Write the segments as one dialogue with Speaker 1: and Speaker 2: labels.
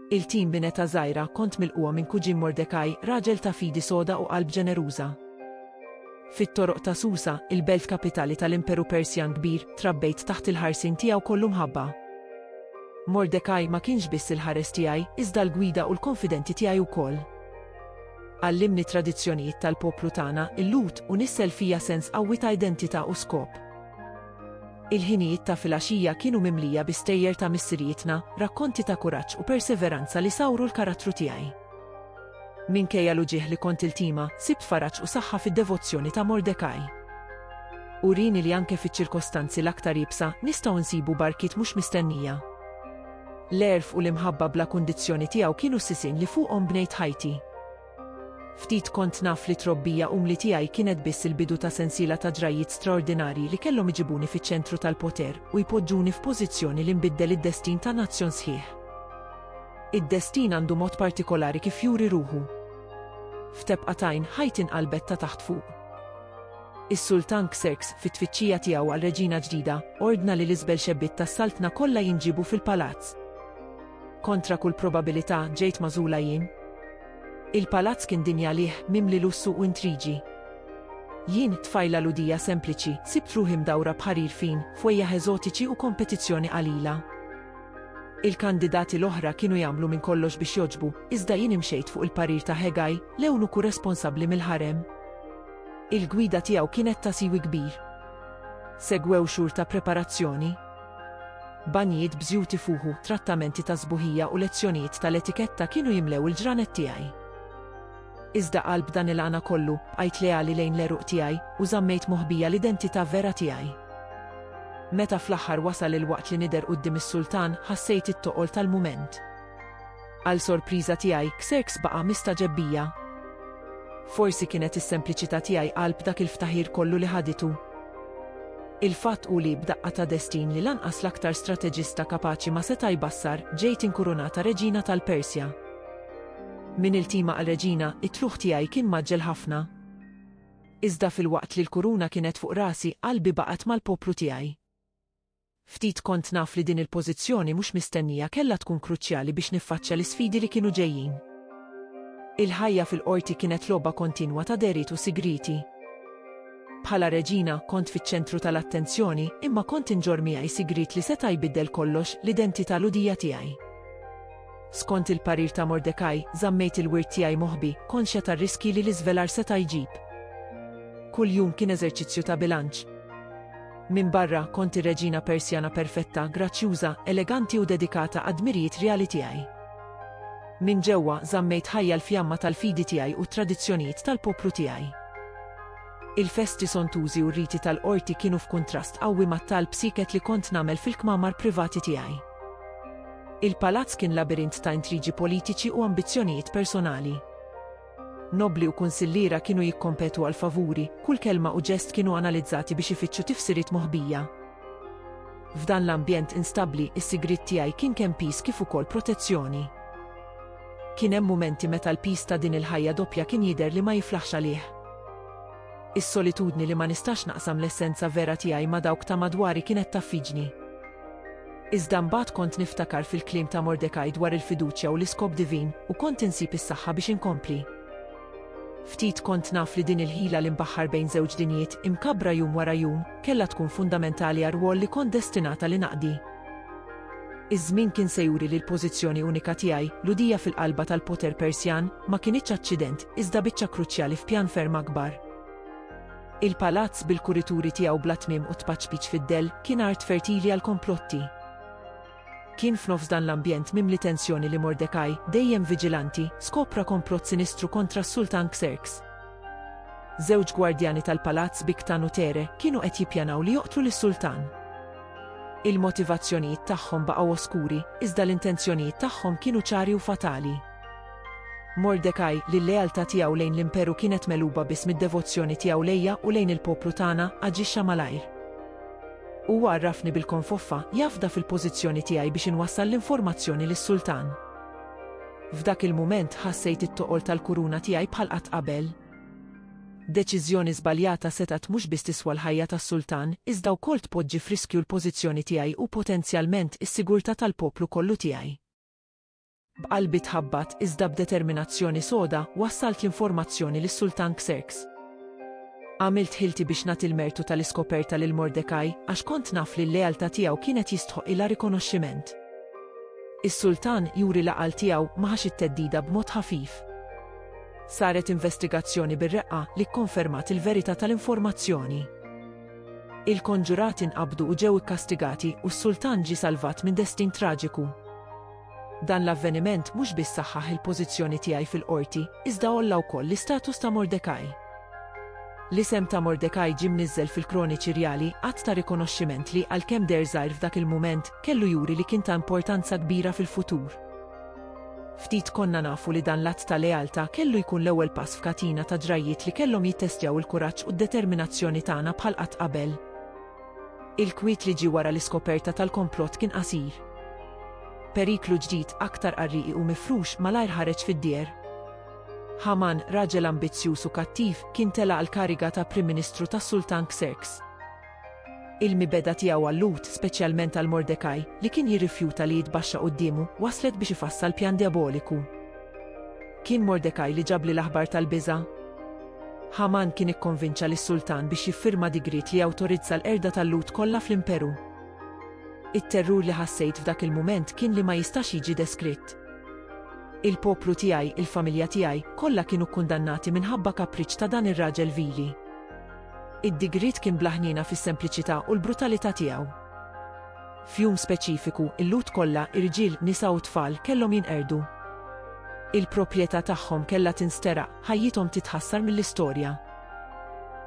Speaker 1: Il-tim minn età żgħira kont milqugħa minn kuġin Mordekaj, raġel ta' fidi soda u qalb ġeneruża. Fit-toroq ta' Susa, il-belt kapitali tal-Imperu Persjan Kbir, trabbejt taħt il-ħarsien tiegħu kollu mħabba. Mordekaj ma kienx biss il-ħares tiegħi, iżda l-gwida u l-konfidenti tiegħi wkoll. Għallimni t-tradizzjonijiet tal-poplu tagħna, il-Lhud, u nissel fija sens qawwi ta' identità u skop. Il-ħinijiet ta' filgħaxija kienu mimlija bi stejjer ta' missirijietna, rakkonti ta' kuraġġ u perseveranza li sawru l-karattru tiegħi. Minkejja l-uġigħ li kont iltima, sibt faraġ u saħħa fid-devozzjoni ta' Mordecai. Urieni li anke fiċ-ċirkostanzi l-aktar iebsa, nistgħu nsibu barkiet mhux mistennija. L-għerf u l-imħabba bla kundizzjoni tiegħu kienu s-sisien li fuqhom bnejt ħajti. Ftit kont naf li t-trobbija umli tiegħi kienet biss il-bidu ta' sensiela ta' ġrajjiet straordinarji li kellhom iġibuni fiċ-ċentru tal-poter u jpoġġuni f'pożizzjoni li nbiddel id-destin ta' nazzjon sħiħ. Id-destin għandu mod partikolari kif juri ruħu. F'tebqa t'għajn, ħajti nqalbet ta' taħt fuq. Is-Sultan Xerxes, fit-tfittxija tiegħu għal reġina ġdida, ordna li l-isbel xebbiet tas-saltna kollha jinġiebu fil-palazz. Kontra kull probabilità, ġejt magħżula jien. Il-palazz kien dinja liħ, mimli lussu u intriġi. Jien, tfajla Lhudija sempliċi, sibt ruħi mdawra b'ħarir fin, fwejjaħ eżotiċi u kompetizzjoni qalila. Il-kandidati l-oħra kienu jagħmlu minn kollox biex jogħġbu, iżda jien imxejt fuq il-parir ta' Hegai, l-ewnuku responsabbli mill-ħarem. Il-gwida tiegħu kienet ta' siwi kbir. Segwew xhur ta' preparazzjoni. Banjijiet b'żjut ifuħu, trattamenti ta' sbuħija u lezzjonijiet tal-etiketta kienu jimlew il-ġranet tiegħi. Iżda qalb dan il-għana kollu, bqajt leali lejn l-għeruq tiegħi u żammejt moħbija l-identità vera tiegħi. Meta fl-aħħar wasal il-waqt li nidher quddiem is-sultan, ħassejt it-toqol tal-mument. Għal sorpriża tiegħi, Xerxes baqa' mistagħġeb bija. Forsi kienet is-sempliċità tiegħi qalb dak il-ftaħir kollu li ħaditu. Il-fatt hu li, b'daqqa ta' destin li lanqas l-aktar strateġista kapaċi ma seta' jbassar, ġejt inkurunata reġina tal-Persja. Minn iltima għal reġina, it-tlugħ tiegħi kien mgħaġġel ħafna. Iżda filwaqt li l-kuruna kienet fuq rasi, qalbi baqgħet mal-poplu tiegħi. Ftit kont naf li din il-pożizzjoni mhux mistennija kellha tkun kruċjali biex niffaċċja l-isfidi li kienu ġejjin. Il-ħajja fil-Qorti kienet logħba kontinwa ta' dehriet u sigrieti. Bħala reġina, kont fiċ-ċentru tal-attenzjoni, imma kont inġorr miegħi sigriet li seta' jbiddel kollox, l-identità Lhudija tiegħi. Skont il-parir ta' Mordecai, żammejt il-wirt tiegħi moħbi, konxja tar-riskji li l-iżvelar seta' jġib. Kuljum kien eżerċizzju ta' bilanċ. Minbarra, kont ir-reġina Persjana perfetta, grazzjuża, eleganti u dedikata għad-dmirijiet rjali tiegħi. Minn ġewwa, żammejt ħajja l-fjamma tal-fidi tiegħi u t-tradizzjonijiet tal-poplu tiegħi. Il-festi sontużi u r-riti tal-qorti kienu f'kuntrast qawwi mat-talb sieket li kont nagħmel fil-kmamar privati tiegħi. Il-palazz kien labirint ta' intrigi politiċi u ambizzjonijiet personali. Nobbli u kunsilliera kienu jikkompetu għal favuri, kull kelma u ġest kienu analizzati biex ifittxu tifsiriet moħbija. F'dan l-ambjent instabbli, is-sigriet tiegħi kien kemm piż kif ukoll protezzjoni. Kien hemm mumenti meta l-piż ta' din il-ħajja doppja kien jidher li ma jiflaħx għalih. Is-solitudni li ma nistax naqsam l-essenza vera tiegħi ma' dawk ta' madwari kienet taffiġni. Iżda mbagħad kont niftakar fil-kliem ta' Mordekaj dwar il-fiduċja u l-iskop divin u kont insib is-saħħa biex inkompli. Ftit kont naf li din il-ħila li nbaħħar bejn żewġ dinjiet, imkabbra jum wara jum, kellha tkun fundamentali għar-rwol li kont destinata li naqdi. Iż-żmien kien se juri li l-pożizzjoni unika tiegħi, l-udija fil-qalba tal-poter Persjan, ma kinitx aċċident, iżda biċċa kruċjali f'pjan ferm akbar. Il-palazz bil-kurituri tiegħu bla tmiem u t-tpaċpiċ fid-dell kien art fertili għall-komplotti. Kien f'nofs dan l-ambjent mimli tensjoni li Mordecai, dejjem viġilanti, skopra komplott sinistru kontra s-Sultan Xerx. Żewġ gwardjani tal-palazz Biktan u Tere kienu qed jippjanaw li joqtlu lis-Sultan. Il-motivazzjonijiet tagħhom baqgħu oskuri, iżda l-intenzjonijiet tagħhom kienu ċari u fatali. Mordekaj, li l-lealtà tiegħu lejn l-Imperu kienet megħluba biss mid-devozzjoni tiegħu lejja u lejn il-poplu tagħna, aġixxa malajr. Huwa għarrafni bil-konfoffa, jafda fil-pożizzjoni tiegħi biex inwassal l-informazzjoni lis-sultan. F'dak il-mument ħassejt it-toqol tal-kuruna tiegħi bħal qatt qabel. Deċiżjoni żbaljata setgħet mhux biss tiswa l-ħajja tas-sultan, iżda wkoll tpoġġi f'riskju l-pożizzjoni tiegħi u potenzjalment is-sigurtà tal-poplu kollu tiegħi. B'qalbi tħabbat, iżda b'determinazzjoni soda, wassalt l-informazzjoni lis-Sultan Xerxes. Għamilt ħilti biex nagħti l-mertu tal-iskoperta lil Mordecai, għax kont naf li l-lealtà tiegħu kienet jistħoqqilha rikonoxximent. Is-sultan juri l-għaqal tiegħu ma ħax it-theddida b'mod ħafif. Saret investigazzjoni bir-reqqa li kkonfermat il-verità tal-informazzjoni. Il-konġurati nqabdu u ġew ikkastigati u s-sultan ġie salvat minn destin traġiku. Dan l-avveniment mhux biss saħħaħ il-pożizzjoni tiegħi fil-qorti, iżda għolla wkoll l-istatus ta' Mordekaj. L-isem ta' Mordekaj ġie mniżżel fil-kroniċi rjali, att ta' rikonoxximent li, għalkemm deher żgħir f'dak il-mument, kellu juri li kien ta' importanza kbira fil-futur. Ftit konna nafu li dan l-att ta' lealtà kellu jkun l-ewwel pass f'katina ta' ġrajjiet li kellhom jittestjaw il-kuraġġ u d-determinazzjoni tagħna bħal qatt qabel. Il-kwiet li ġie wara l-iskoperta tal-komplott kien qasir. Periklu ġdid, aktar qarrieqi u mifrux, malajr ħareġ fid-dieher. Ħaman, raġel ambizzjuż u kattiv, kien tela' għall-kariga ta' Prim Ministru tas-Sultan Xerxes. Il-mibegħda tiegħu għal-Lhud, speċjalment għal Mordekaj, li kien jirrifjuta li jitbaxxa quddiemu, wasslet biex ifassal pjan djaboliku. Kien Mordekaj li ġabli l-aħbar tal-biża'? Ħaman kien ikkonvinċa lis-sultan biex jiffirma digriet li jawtorizza l-qerda tal-Lhud kollha fl-imperu. It-terrur li ħassejt f'dak il-mument kien li ma jistax jiġi deskritt. Il-poplu tiegħi, il-familja tiegħi, kollha kienu kkundannati minħabba kapriċċ ta' dan ir-raġel vili. Id-digriet kien bla ħniena fis-sempliċità u l-brutalità tiegħu. F'jum speċifiku, il-Lhud kollha, irġiel, nisa u tfal, kellhom jinqerdu. Il-proprjetà tagħhom kellha tinsteraq, ħajjithom titħassar mill-istorja.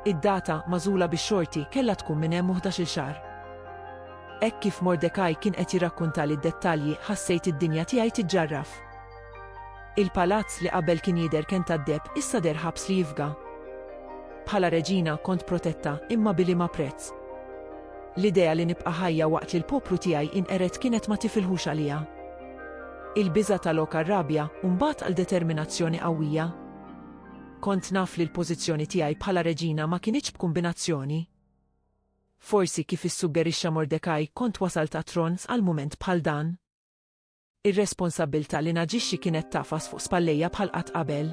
Speaker 1: Id-data, magħżula bix-xorti, kellha tkun minn hemm u ħdax-il xahar. Hekk kif Mordekaj kien qed jirrakkuntali d-dettalji, ħassejt id-dinja tiegħi tiġġarraf. Il-palazz li qabel kien jidher kenn tad-deheb issa deher ħabs li jifga. Bħala reġina kont protetta imma b'iliema prezz. L-idea li nibqa' ħajja waqt li l-poplu tiegħi jinqered kienet ma tifilħux għaliha. Il-biża' ta' lok għar-rabja u mbagħad għal determinazzjoni qawwija. Kont naf li l-pożizzjoni tiegħi bħala reġina ma kinitx b'kumbinazzjoni. Forsi kif issuggerixxa Mordecai kont wasalt għat-tron f'għal mument bħal dan. Ir-responsabbiltà li naġixxi kienet tagħfas fuq spallejja bħal qatt qabel.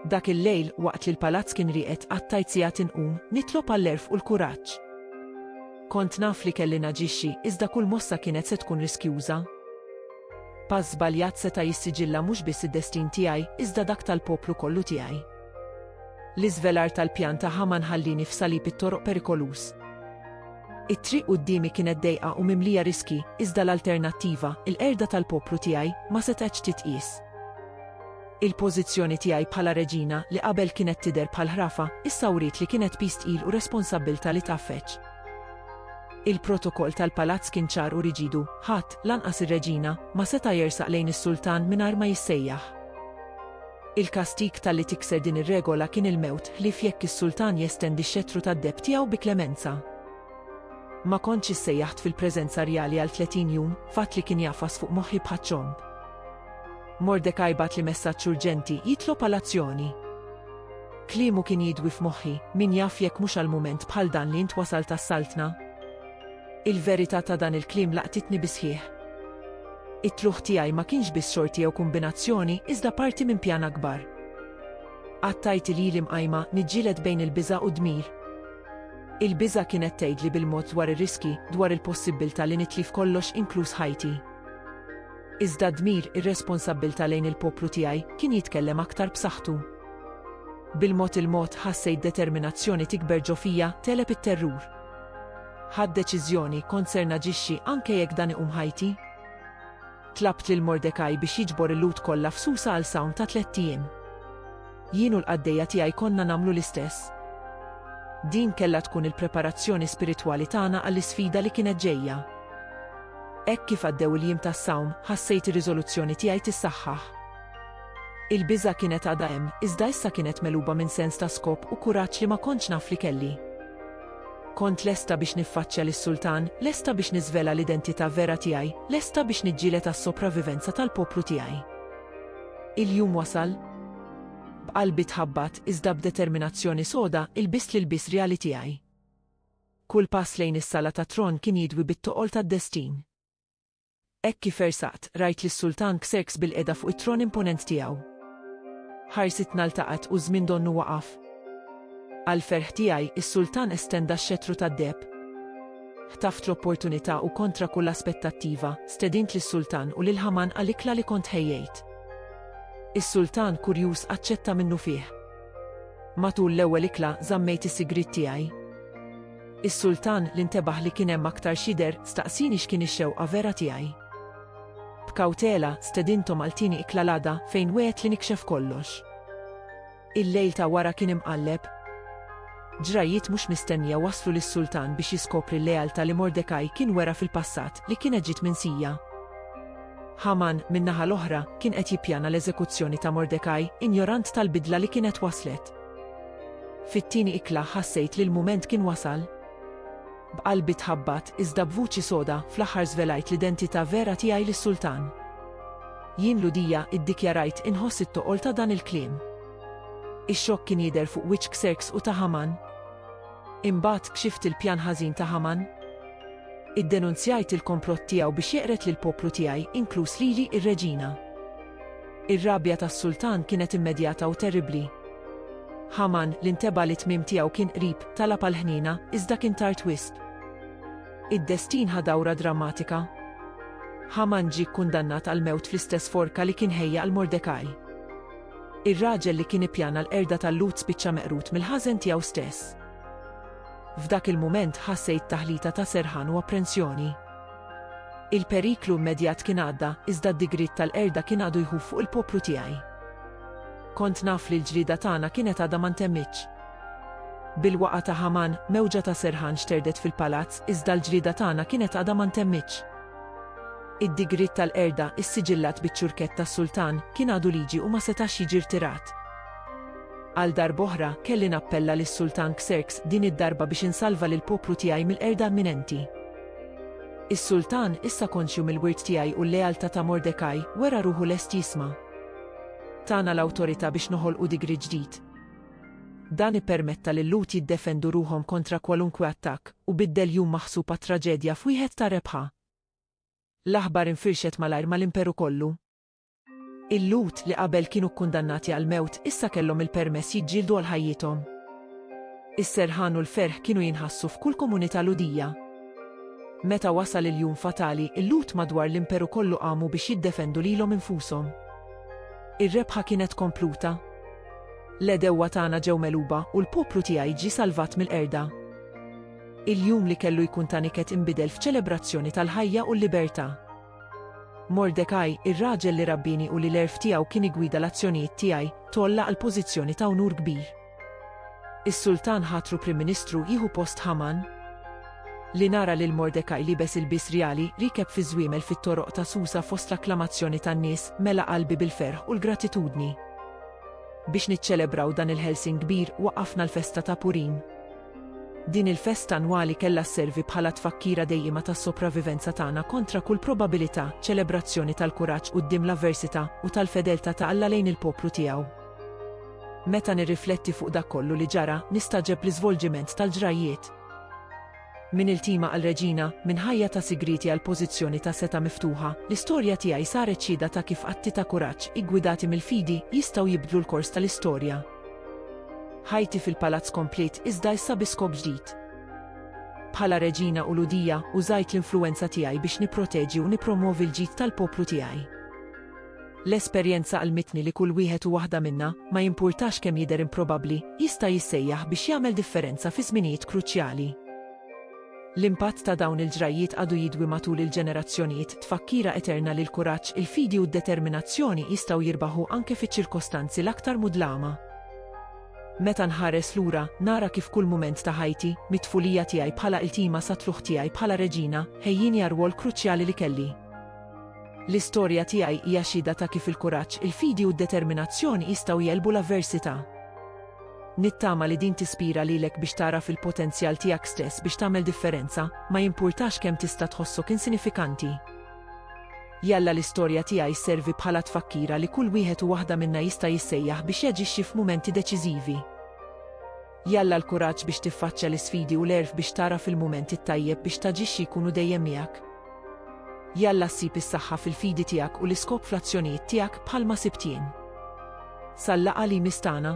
Speaker 1: Dak il-lejl, waqt li l-palazz kien rieqed, qattajt sigħat inqum, nitlob għall-għerf u l-kuraġġ. Kont naf li kelli naġixxi, iżda kull mossa kienet se tkun riskjuża. Pass żbaljat seta' jissiġilla mhux biss id-destin tiegħi, iżda dak tal-poplu kollu tiegħi. L-iżvelar tal-pjan ta' Ħaman ħallieni f'salib it-toroq perikoluż. It-triq quddiemi kienet dejqa u mimlija riskji, iżda l-alternattiva, il-qerda tal-poplu tiegħi, ma setgħetx titqies. Il-pożizzjoni tiegħi bħala reġina, li qabel kienet tidher bħal ħrafa, issa wriet li kienet piż tqil u responsabbiltà li tgħaffeġ. Il-protokoll tal-palazz kien ċar u riġidu, ħadd, lanqas ir-reġina, ma seta' jersaq lejn is-sultan mingħajr ma jissejjaħ. Il-kastig talli tikser din ir-regola kien il-mewt ħlief jekk is-sultan jestendi x-xettru tad-deheb tiegħu bi klemenza. Ma kontx issejjaħt fil-preżenza rjali għal tletin jum, fatt li kien jagħfas fuq moħħi bħaċ-ċomb. Mordekaj bagħatli messaġġ urġenti jitlob għal azzjoni. Kliemu kien jidwi f'moħħi, min jaf jekk mhux għal mument bħal dan li int wasalt għas-saltna? Il-verità ta' dan il-kliem laqtitni bis-sħiħ. It-tlugħ tiegħi ma kienx biss xorti jew kumbinazzjoni iżda parti minn pjan akbar. Qatt għidt li lili mqajma niġġieled bejn il-biża' u d-dmir. Il-biża' kienet tgħidli bil-mod dwar ir-riskji, dwar il-possibbiltà li nitlif kollox inkluż ħajti. Iżda d-dmir, ir-responsabbiltà lejn il-poplu tiegħi, kien jitkellem aktar b'saħħtu. Bil-mod il-mod, ħassejt determinazzjoni tikber ġo fija, tegħleb it-terrur. Ħadt deċiżjoni, kont ser naġixxi anke jekk dan iqum ħajti. Tlabt lil Mordekaj biex jiġbor il-Lhud kollha f'Susa għal sawm ta' tlett ijiem. Jien u l-qaddejja tiegħi konna nagħmlu l-istess. Din kellha tkun il-preparazzjoni spiritwali tagħna għall-isfida li kienet ġejja. Hekk kif għaddew il-jiem tas-sawm, ħassejt ir-riżoluzzjoni tiegħi tissaħħaħ. Il-biża' kienet għadha hemm, iżda issa kienet megħluba minn sens ta' skop u kuraġġ li ma kontx naf li kelli. Kont lesta biex niffaċċja lis-sultan, lesta biex niżvela l-identità vera tiegħi, lesta biex niġġieled għas-sopravivenza tal-poplu tiegħi. Il-jum wasal. B'qalbi tħabbat, iżda b'determinazzjoni soda, ilbist l-ilbies rjali tiegħi. Kull pass lejn is-Sala tat-Tron kien jidwi bit-toqol tad-destin. Hekk kif ersaqt, rajt lis-Sultan Xerxes bilqiegħda fuq it-tron imponent tiegħu. Ħarsitna ltaqgħet u ż-żmien donnu waqaf. Għall-ferħ tiegħi, is-Sultan estenda x-xettru tad-deheb. Ħtaft l-opportunità u kontra kull aspettattiva, stedint lis-Sultan u lil Ħaman għal ikla li kont ħejjejt. Is-Sultan, kurjuż, aċċetta minnufih. Matul l-ewwel ikla, żammejt is-sigriet tiegħi. Is-Sultan, li ntebaħ li kien hemm aktar x'jidher, staqsieni x'kien ix-xewqa vera tiegħi. B'kawtela, stedinthom għal tieni ikla l-għada, fejn wegħedt li nikxef kollox. Il-lejl ta' wara kien imqalleb. Ġrajjiet mhux mistennija wasslu lis-Sultan biex jiskopri l-lealtà li Mordekaj kien wera fil-passat, li kienet ġiet minsija. Ħaman, min-naħa l-oħra, kien qed jippjana l-eżekuzzjoni ta' Mordekaj, injorant tal-bidla li kienet waslet. Fit-tieni ikla ħassejt li l-mument kien wasal. B'qalbi tħabbat, iżda b'vuċi soda, fl-aħħar żvelajt l-identità vera tiegħi lis-sultan. Jien Ludia, iddikjarajt, inħoss it-toqol ta' dan il-kliem. Ix-xokk kien jidher fuq wiċċ Xerxes u ta' Haman. Imbagħad kxift il-pjan ħażin ta' Haman. Iddenunzjajt il-komplott tiegħu biex jeqred lill-poplu tiegħi, inkluż lili, ir-reġina. Ir-rabja tas-sultan kienet immedjata u terribbli. Ħaman, li nteba' li t-tmiem tiegħu kien qrib, talab għall-ħniena, iżda kien tard wisq. Id-destin ħa dawra drammatika. Ħaman ġie kkundannat għall-mewt fl-istess forka li kien ħejja għal Mordekaj. Ir-raġel li kien ippjana l-qerda tal-Lhud spiċċa meqrud mill-ħażen tiegħu stess. F'dak il-mument ħa Sejd taħlita ta' serħan u apprensjoni. Il-periklu immedjat kien għadda, iżda d-digriet tal-qerda kien għadu jħuf fuq il-poplu tiegħi. Kont naf li l-ġlieda tagħna kienet għadha ma ntemmitx. Bil-waqgħa ta' Ħaman, mewġa ta' serħan xterdet fil-palazz, iżda l-ġlieda tagħna kienet għadha ma ntemmitx. Id-digriet tal-qerda, issiġillat biċ-ċurkett tas-sultan, kien għadu liġi u ma setax jiġi rtirat. Għal darb'oħra, kelli nappella lis-Sultan Xerxes din id-darba biex insalva lill-poplu tiegħi mill-qerda imminenti. Is-sultan, issa konxju mill-wirt tiegħi u l-lealtà ta' Mordekaj, wera ruħu lest jisma'. Tana l-awtorità biex noħolqu digri ġdid. Dan ippermetta lil-Lhud jiddefendu ruħhom kontra kwalunkwe attakk, u biddel jum maħsub għat-traġedja f'wieħed ta' rebħa. L-aħbar infirxet malajr mal-Imperu kollu. Il-Lhud li qabel kienu kkundannati għall-mewt issa kellhom il-permess jiġġieldu għal ħajjithom. Is-serħan u l-ferħ kienu jinħassu f'kull komunità Lhudija. Meta wasal il-jum fatali, il-Lhud madwar l-Imperu kollu qamu biex jiddefendu lilhom infushom. Ir-rebħa kienet kompluta. L-għedewwa tagħna ġew megħluba u l-poplu tiegħi ġie salvat mill-qerda. Il-jum li kellu jkun ta' niket inbidel f'ċelebrazzjoni tal-ħajja u l-libertà. Mordekaj, ir-raġel li rabbini u li l-għerf tiegħu kien igwida l-azzjonijiet tiegħi, tgħolla għal pożizzjoni ta' unur kbir. Is-sultan ħatru Prim Ministru jieħu post Ħaman. Li nara lil Mordekaj liebes ilbies rjali, rikeb fiż-żwiemel fit-toroq ta' Susa fost l-akklamazzjoni tan-nies, mela qalbi bil-ferħ u l-gratitudni. Biex niċċelebraw dan il-ħelsien kbir, waqqafna l-festa ta' Purim. Din il-festa annwali kellha sservi bħala tfakkira dejjima tas-sopravivenza tagħna kontra kull probabilità, ċelebrazzjoni tal-kuraġġ quddiem l-avversità, u tal-fedeltà ta' Alla lejn il-poplu tiegħu. Meta nirrifletti fuq dak kollu li ġara, nistagħġeb l-iżvolġiment tal-ġrajjiet. Minn iltima għal reġina, minn ħajja ta' sigrieti għal pożizzjoni ta' setgħa miftuħa, l-istorja tiegħi saret xhieda ta' kif atti ta' kuraġġ, iggwidati mill-fidi, jistgħu jibdlu l-kors tal-istorja. Ħajti fil-palazz kompliet iżda issa bi skop ġdid. Bħala reġina u ludija, użajt l-influwenza tiegħi biex nipproteġi u nippromwovi l-ġid tal-poplu tiegħi. L-esperjenza għallmitni li kull wieħed u waħda minna, ma jimpurtax kemm jidher improbabbli, jista' jissejjaħ biex jagħmel differenza fi żminijiet kruċjali. L-impatt ta' dawn il-ġrajjiet għadu jidwi matul il-ġenerazzjonijiet, tfakkira eterna li l-kuraġġ, il-fidi u d-determinazzjoni jistgħu jirbaħu anke fiċ-ċirkostanzi l-aktar mudlama. Meta nħares lura, nara kif kull mument ta' ħajti, mit-tfulija tiegħi bħala iltima sat-tlugħ tiegħi bħala reġina, ħejjieni għar-rwol kruċjali li kelli. L-istorja tiegħi hija xhieda ta' kif il-kuraġġ, il-fidi u d-determinazzjoni jistgħu jegħlbu l-avversità. Nittama li din tispira lilek biex tagħraf il-potenzjal tiegħek stess biex tagħmel differenza, ma jimpurtax kemm tista' tħossok insinifikanti. Jalla l-istorja tiegħi sservi bħala tfakkira li kull wieħed u waħda minna jista' jissejjaħ biex jaġixxi f'mumenti deċiżivi. Jalla l-kuraġġ biex tiffaċċja l-isfidi u l-għerf biex tagħraf il-mument it-tajjeb biex taġixxi jkunu dejjem miegħek. Jalla ssib is-saħħa fil-fidi tiegħek u l-iskop fl-azzjonijiet tiegħek bħalma sibt jien. Sal-laqgħa li jmiss tagħna.